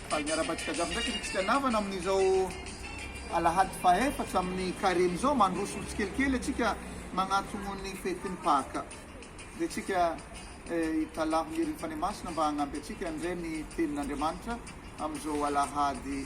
Faly miarahaba antsika jiaby ndraiky ny fitianavana amin'izao alahady fahefatra amin'ny careme izao, mandroso tsikelikely antsika magnantogno ny fetin'ny Paka. Dia tsika hitalaho ny herin'ny Fanahy Masina mba hagnampy antsika handre ny tenin'Andriamanitra amin'izao alahady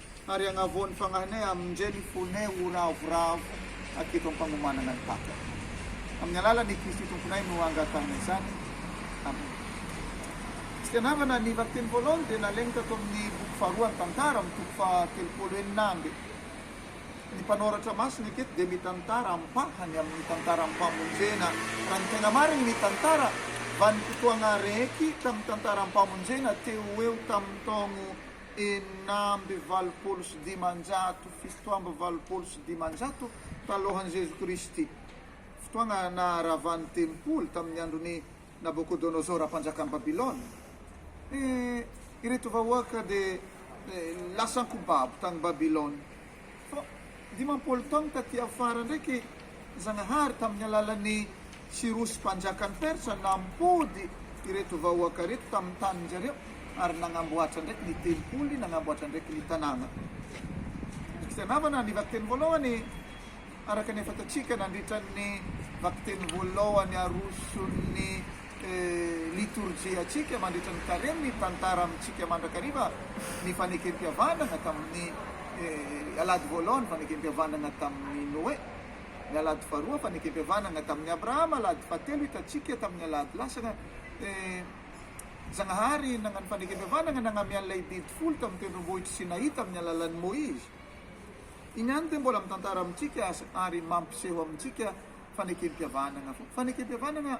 Ary hagnavao ny fagnahinay amin-dre ny fonay ho ravoravo hatreto am-pagnomanagna ny Paka. Amin'ny alalan' i Kristy Tomponay no angatahinay izany. Amena. Tsy dia navana ny vakiteny voalohany dia nalaigny tato amin'ny boky faharoa ny Tantara amin'ny toko faha-telopolo enina amby. Ny mpanoratra masina eketo dia mitantara ampahany amin'ny tantaram-pamonjena. Raha ny tegna marigny, ny tantara vanim-potoagna araiky tamin'ny tantaram-pamonjena teo ho eo tamin'ny taogno. enina amby valopolo sy dimanjato, fito amby valopolo sy dimanjato talohan'i Jesoa Kristy, fotoana naharavan'ny tempoly tamin'ny andron'i Nabokodonosora mpanjakan'i Babylona, dia ireto vahoaka dia lasa ankohobabo tany Babylona. Fa dimampolo taona taty afara ndraiky i Zagnahary tamin'ny alalan'i Sirosy mpanjakan'i Persa nampody ireto vahoaka ireto tamin'ny tanin-dry zareo ary nagnamboatra ndraiky ny tempoly, nagnamboatra ndraiky ny tanàna. Ry fitianavana, ny vakiteny voalohany, araka ny efa hitantsika nandritra ny vakiteny voalohany aroson'ny. Litorjiantsika mandritra ny Karemy mitantara amintsika mandrakariva ny Fanekempihavanana tamin'ny Alahady voalohany, Fanekempihavanana tamin'ny Noe, ny Alahady faharoa, Fanekempihavanana tamin'ny Abrahama, Alahady fahatelo, hitantsika tamin'ny Alahady lasana, Zagnahary nagnano Fanekempihavanana nagname an'ilay biby folo tamin'ny tendrombohitry Sinaï tamin'ny alalan'i Moïse. Iny ihany dia mbola mitantara amintsika azy ary mampiseho amintsika Fanekempihavanana foana. Fanekempihavanana.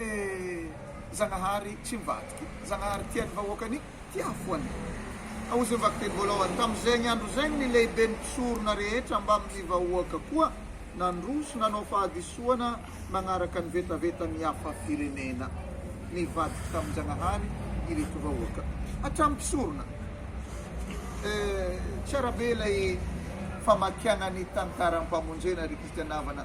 Eh! Zagnahary tsy mivadika. Zagnahary tia ny vahoakany, tia foana. Aozy ny vakiteny voalohany. Tamin'izegny andro zegny ny lehiben'ny mpisorona rehetra mbamin'ny vahoaka koa nandroso nanao fahadisoana nagnaraka ny vetavetan'ny hafa firenena. Nivadiky tamin-Jagnahary ireto vahoaka. Hatramin'ny mpisorona. Eh! Tsara be ilay famakiagna ny tantaram-pamonjena ry Kristiana havana.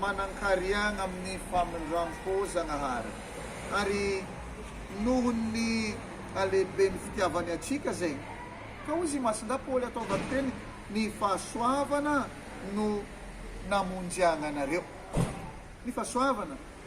manan-kariagna amin'ny famindram-po Zagnahary, ary noho ny halehiben'ny fitiavany antsika zay ka hozy i Masindahy Paoly ataovany teny, ny fahasoavana no namonjy agnanareo. Ny fahasoavana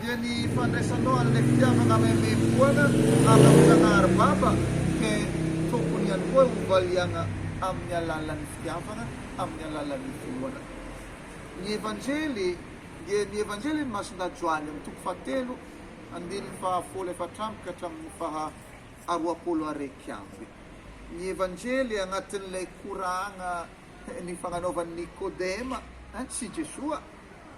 dia ny fandraisanao an'ilay fitiavana maimaimpoana hanavotana aribaba dia tokony ihany koa hovaliana amin'ny alalan'ny fitiavana, amin'ny alalan'ny finoana. Ny Evanjely dia ny Evanjelin'i Masindahy Joany amin'ny toko fahatelo andininy fahafolo efatra amby ka hatramin'ny faha roapolo araiky amby. Ny Evanjely anatin'ilay koragna nifagnanaovan'i Nikôdema sy Jesoa.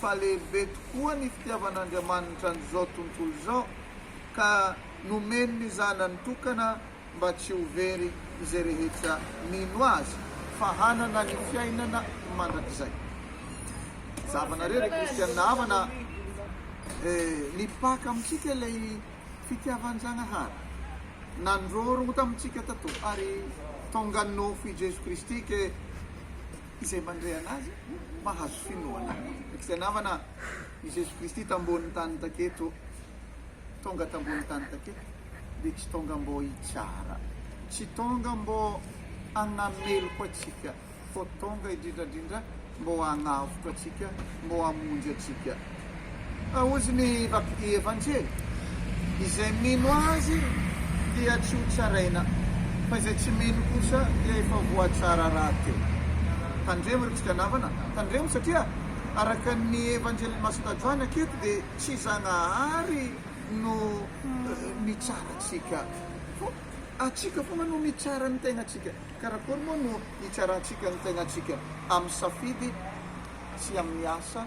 fa lehibe tokoa ny fitiavan'Andriamanitra an'izao tontolo izao ka nomeny ny Zanany tokana mba tsy ho very izay rehetra mino Azy fa hanana ny fiainana mandrakizay. Zahavanareo ry Kristianina havana e, nipaka amintsika ilay fitiavan-Jagnahary, nandrorogno tamintsika tato ary tonga nofo i Jeso Kristy ke. Izay mandre anazy mahazo finoana. Izay namana i Jeso Kristy tambonin'ny tany taketo, tonga tambonin'ny tany taketo, dia tsy tonga mbô hitsara, tsy tonga mbô hagnameloka antsika, fô tonga indrindrandrindra mbô hagnavotra antsika, mbô hamonjy antsika. Fa hozy ny vaky Evanjely, izay mino azy dia tsy ho tsaraina, fa izay tsy mino kosa dia efa voatsara rahateo. Tandremo ry Kristiana havana, tandremo satria araka ny Evanjelin'i Masina Joany aketo dia tsy Zagnahary no mitsara antsika, fa atsika foana no mitsara ny tegnantsika. Karakory moa no hitsarantsika ny tegnantsika? Amin'ny safidy sy amin'ny asa?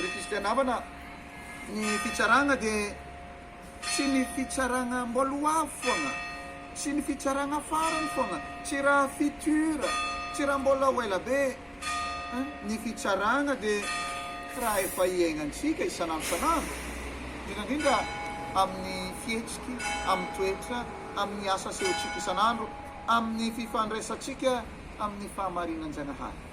Ry kristiana havana, ny fitsaragna dia tsy ny fitsaragna mboaloavo foagna, tsy ny fitsaragna farany foagna, tsy raha future, tsy raha mbola ho ela be. Ny fitsaragna dia raha efa hiaignantsika isan'andro isan'andro, indrindra indrindra amin'ny fihetsiky, amin'ny toetra, amin'ny asa asehontsika isan'andro, amin'ny fifandraisantsika amin'ny fahamarinan-Jagnahary.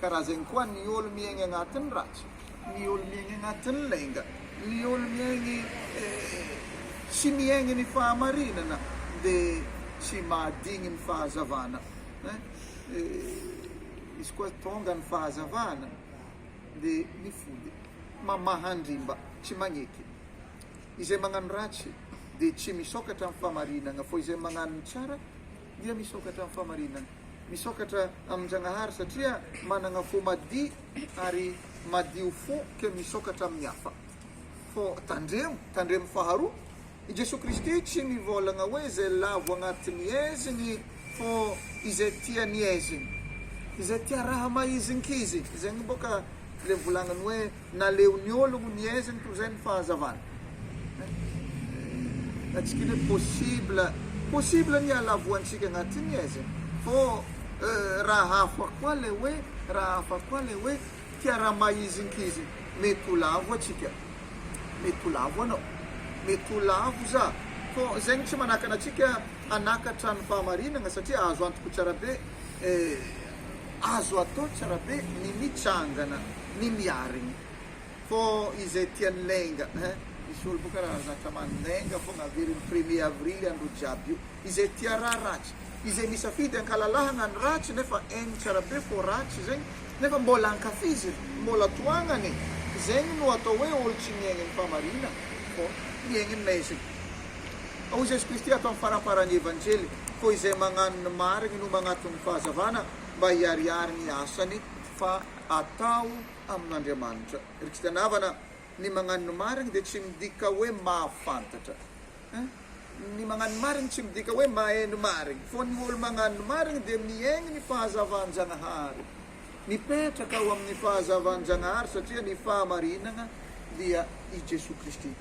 Ka raha zegny koa ny olo miaigny agnatin'ny ratsy, ny olo miaigny agnatin'ny lainga, ny olo miaigny tsy miaigny ny fahamarinana de tsy mahadigny ny fahazavana hein izy koa tonga ny fahazavana de mifody, mamaha andrimba, tsy magneky, izay magnano ratsy de tsy misokatra amin'ny fahamarinagna fa izay magnano ny tsara Dia misokatra amin'ny fahamarinana. Misokatra amin-Janahary satria manana fo madio ary madio fo ka misokatra amin'ny hafa. Fô tandremo, tandremo faharoa, i Jesoa Kristy tsy mivôlagna hoe izay lavo agnatin'ny aizigny fô izay tia ny aizigny. Izay tia raha mahizinkizigny, zegny bôka le volagniny hoe. Naleon'ny ologno niezigny toy izay ny fahazavana. Atsika anie possible possible ny halavoantsika agnaty niezigny fô raha hafa koa le hoe raha hafa koa le hoe tia raha mahizinkizigny. Mety ho lavo atsika, mety ho lavo anao, mety ho lavo za fô zegny tsy manakana atsika hanakatra ny fahamarinagna satria azo antoko tsara be eh. Azo atao tsara be ny mitsangana ny miarigny fô izay tia ny lainga hein misy olo boka raha zatra man lainga fogna averigny premier avrily andro jiaby io izay tia raha ratsy izay misafidy ankalalahagna ny ratsy nefa hainy tsara be fô ratsy zegny nefa mbôla ankafizigny mbôla tohagnagny zegny no atao hoe olo tsy miaigny ny famarigna fô miaigny ny maizigny. Hoy Jesosy Kristy ato amin'ny faramparan'ny Evanjely, Koa izay mañano ny marigny no mañatona ny fahazavana, mba hiharihary ny asany, fa atao amin'Andriamanitra. Ry Kristiana havana, ny mañano ny marigny dia tsy midika hoe mahafantatra. Ny mañano ny marigny tsy midika hoe mahay ny marigny. Fô ny olo mañano ny marigny dia miaigny ny fahazavan-Jañahary. Mipetraka ao amin'ny fahazavan-Janahary satria ny fahamarinana dia i Jesoa Kristy.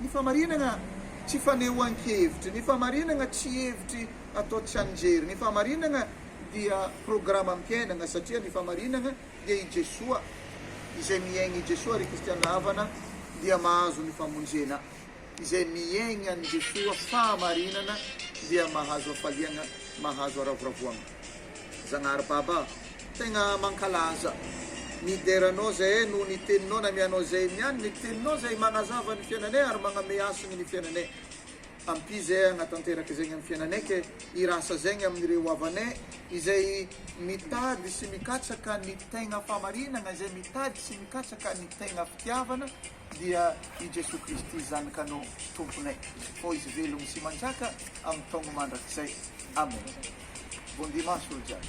Ny fahamarinana tsy fanehoan-kevitry, ny fahamarinana tsy hevitry atao tsianjery, ny fahamarinana dia programam-piainana satria ny fahamarinana dia i Jesoa, izay miaigna i Jesoa ry kristiana havana dia mahazo ny famonjena. Izay miaigny any Jesoa fahamarinana dia mahazo hafaliagna, mahazo haravoravoagna. Zagnahary Baba, tegna mankalaza, midera Anao zahay noho ny Teninao nameanao zahay niany, ny Teninao zay magnazava ny fiainanay ary magname hasiny ny fiainanay. Ampio zahay hagnatanteraka izegny amin'ny fiainanay ke hirasa zegny amin'ireo havanay izay mitady sy mikatsaka ny tegna fahamarinagna, izay mitady sy mikatsaka ny tegna fitiavana, Dia i Jesoa Kristy Zanakanao Tomponay. Hoy Izy velogno sy manjaka am taogno mandrakizay. Amen. Bon dimanche olo jiaby.